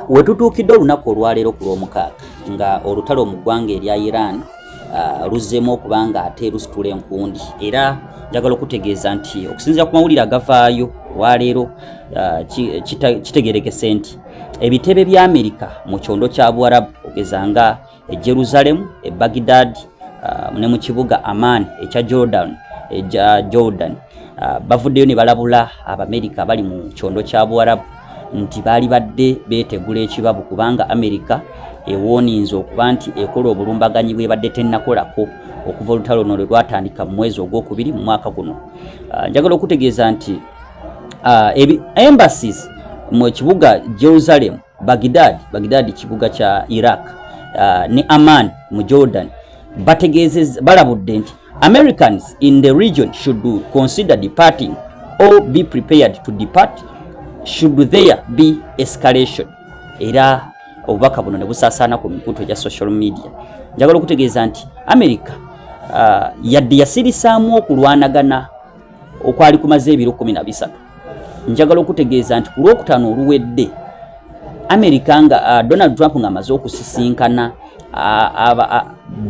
Wetutuukidde olunaku olwaleero ku lw'omukaaga nga olutalo mu ggwanga erya Iran uh, luzzeemu okuba nga ate lusitula enkundi era njagala okutegeeza nti okusinzira ku mawulire agavaayo olwaleero uh, kitegerekese nti ebitebe bya Amerika mu kyondo kya Buwarabu ogeza nga e Jerusalem, e Baghdad, uh, ne mu kibuga Amman ekya Jordan, ekya Jordan. Uh, bavuddeyo ne balabula Abamerika abali mu kyondo kya Buwarabu nti baali badde beetegula ekibabu kubanga Amerika ewooninze okuba nti ekola obulumbaganyi bwebadde tennakolako okuva olutalo luno lwe lwatandika mu mwezi ogwokubiri mu mwaka guno. Uh, njagala okutegeeza nti uh, embassies mu kibuga Jerusalem Baghdad, Baghdad kibuga kya Iraq uh, ne Amman mu Jordan bategeezezza balabudde nti Americans in the region should consider departing or be prepared to depart should there be escalation era obubaka buno ne busaasaana ku mikutu egya social media njagala okutegeeza nti america uh, yadde yasirisaamu okulwanagana okwali kumaze ebiro kumi na bisatu njagala okutegeeza nti ku lwokutaano oluwedde amerika nga uh, donald trump ng'amaze okusisinkana uh,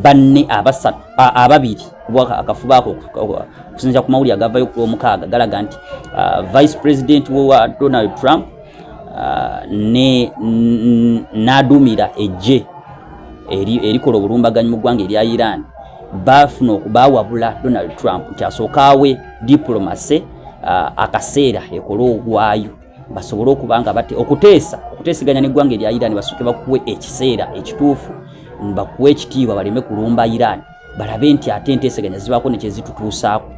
banne abasatu ababiri kuba akafuba ako okusinzira ku mawulire agavayo ku lwomukaaga galaga nti uh, vice president wa donald trump uh, ne n'aduumira ejje erikola obulumbaganyi mu ggwanga erya iran baafuna okubawabula donald trump nti asooka awe diplomase uh, akaseera ekola ogwayo basobole okuba nga bate okuteesa okuteeseganya n'eggwanga erya Iran basooke bakuwe ekiseera ekituufu bakuwe ekitiibwa baleme kulumba Iran balabe nti ate enteeseganya zibaako nekyezitutuusaako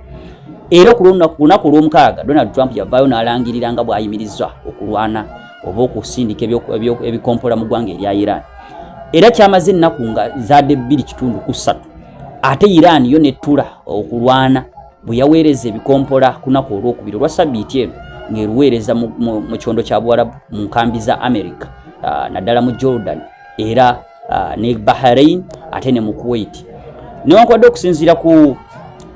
era ku lunaku olw'omukaaga Donald Trump yavaayo n'alangirira nga bw'ayimiriza okulwana oba okusindika ebikompola mu ggwanga erya Iran era kyamaze ennaku nga zaade bbiri kitundu ku ssatu ate Iran yo nettula okulwana bwe yaweereza ebikompola kunaku olwokubiri olwa sabiiti eno ng'eruweereza mu kyondo kya buwarabu mu nkambi za america ah, naddala mu jordan era ah, ne bahrain ate ne mu kuwait newankubadde okusinziira ku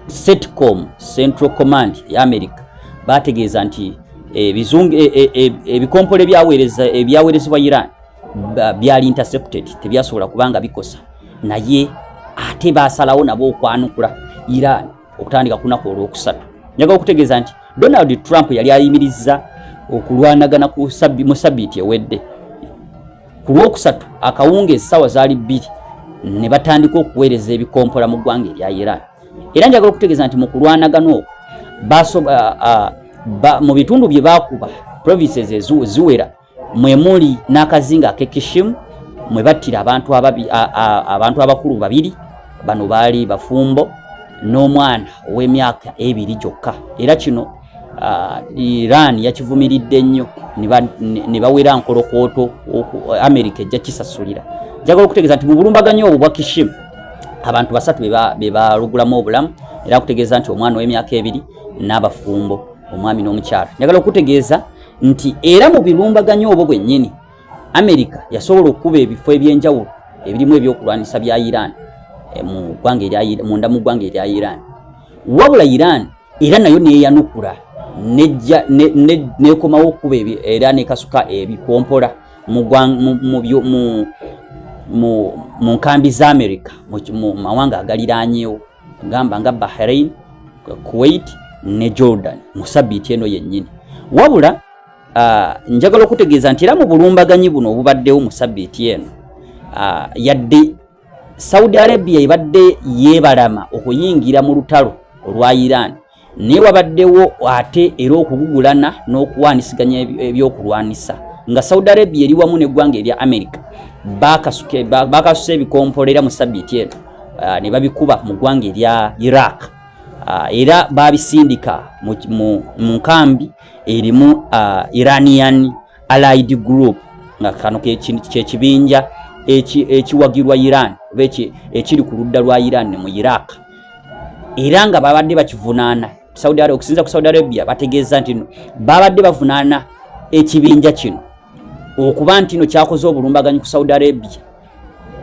setcom central command e america bategeeza nti eh, eh, eh, ebikompola ebyaweerezebwa iran byali intercepted tebyasobola kubanga bikosa naye ate basalawo nabo okwanukula iran okutandika kunaku olwokusatu njaga okutegeeza nti donald trump yali ayimiriza okulwanagana mu sabiiti ewedde ku lwokusatu akawunga esawa zaali bbiri ne batandika okuweereza ebikompola mu ggwanga erya iran era njagala okutegeeza nti mu kulwanagana okwo mu bitundu bye baakuba provinces eziwera mwe muli n'akazinga ak'e Kishimu mwe battira abantu abantu abakulu babiri bano baali bafumbo n'omwana ow'emyaka ebiri gyokka era kino uh, Iran yakivumiridde nnyo ne bawera nkolokooto Amerika ejja kisasulira njagala okutegeeza nti mu bulumbaganyi obwo bwa Kishim abantu basatu be balugulamu obulamu era kutegeeza nti omwana ow'emyaka ebiri n'abafumbo omwami n'omukyala njagala okutegeeza nti era mu bilumbaganya obwo bwennyini amerika yasobola okukuba ebifo ebyenjawulo ebirimu ebyokulwanyisa bya iran eh, munda mu ggwanga erya iran wabula iran era nayo neyanukula nekomawo okukuba era nekasuka ebikompola mu nkambi za amerika mu mawanga agaliranyewo gamba nga Bahrain, Kuwait ne Jordan mu sabiiti eno yennyini wabula uh, njagala okutegeeza nti era mu bulumbaganyi buno obubaddewo mu sabiiti eno uh, yadde Saudi Arabia ebadde yeebalama okuyingira mu lutalo olwa Iran naye wabaddewo ate era okugugulana n'okuwaanisiganya ebyokulwanisa nga saudi arabia eri wamu neggwanga erya america bakasusa ebikompola era mu sabiiti eno ah, ne babikuba mu ggwanga erya iraq ah, era babisindika mu nkambi erimu ah, iranian allied group nga kano kyekibinja ekiwagirwa iran oba ekiri ku ludda lwa iran mu iraq era nga babadde bakivunaana saudi arabia okusinza ku saudi arabia bategeeza nti no babadde bavunaana ekibinja kino okuba nti no kyakoze obulumbaganyi ku saudi arabia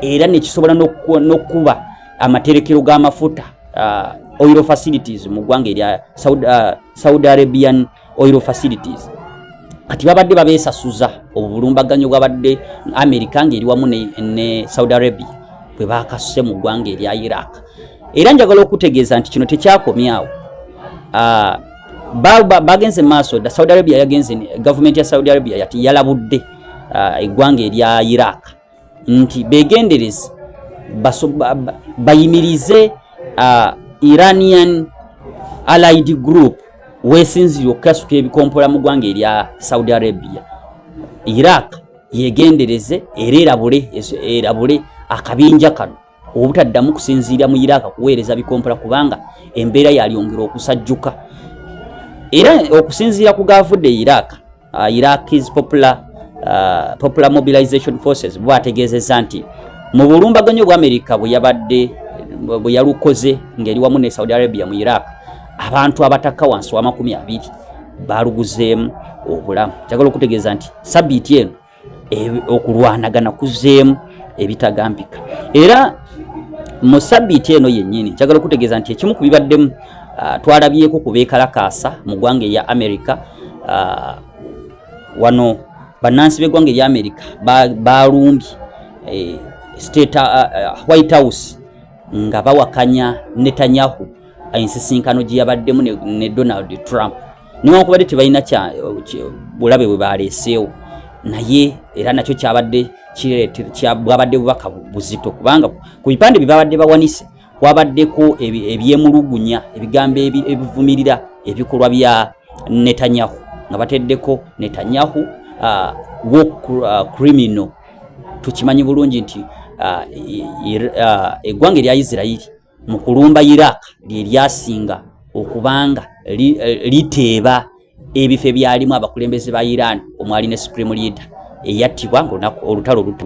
era nekisobola nokukuba amaterekero g'amafuta uh, oil facilities mu ggwanga erya saudi, uh, saudi arabian oil facilities kati babadde babesasuza obulumbaganyo bwabadde amerika ng'eri wamu ne, ne saudi arabia bwe bakasuse mu ggwanga erya iraq era njagala okutegeeza nti kino tekyakomyawo ah, bagenze maaso da saudi arabia yagenze gavumenti ya saudi arabia yati yalabudde ah, eggwanga erya iraq nti begendereze bayimirize uh, iranian allied group wesinzire okukasuka ebikompola mu ggwanga erya saudi arabia iraq yegendereze era erabule akabinja kano obutaddamu kusinziira mu Iraq kuweereza bikompula kubanga embeera yalyongera okusajjuka era okusinziira ku gaavudde Iraq uh, Iraq is popular, uh, popular mobilization forces bwategeezezza nti mu bulumbaganyi obwa Amerika bwe yabadde bwe yalukoze ng'eri wamu ne Saudi Arabia mu Iraq abantu abatakka wansi w'amakumi abiri baaluguzeemu obulamu kyagala okutegeeza nti sabiiti eno okulwanagana kuzeemu ebitagambika era mu sabiiti eno yennyini njagala okutegeeza nti ekimu ku bibaddemu ah, twalabyeko ku beekalakaasa mu ggwanga erya amerika ah, wano bannansi b'eggwanga erya amerika balumbye eh, state ah, white house nga bawakanya netanyahu ensisinkano gye yabaddemu ne donald trump newankubadde tebalina bulabe bwe baleeseewo naye era nakyo kyabadde bwabadde bubaka buzito kubanga ku bipande bye babadde bawanise kwabaddeko ebyemulugunya ebigambo ebivumirira ebikolwa bya netanyahu nga bateddeko netanyahu uh, war uh, criminal tukimanyi bulungi nti uh, uh, eggwanga erya isirairi mu kulumba Iraq lye lyasinga okubanga liteeba ebifo ebyalimu abakulembeze ba Iran omwali ne Supreme Leader eyattibwa ng'olunaku olutalo lutu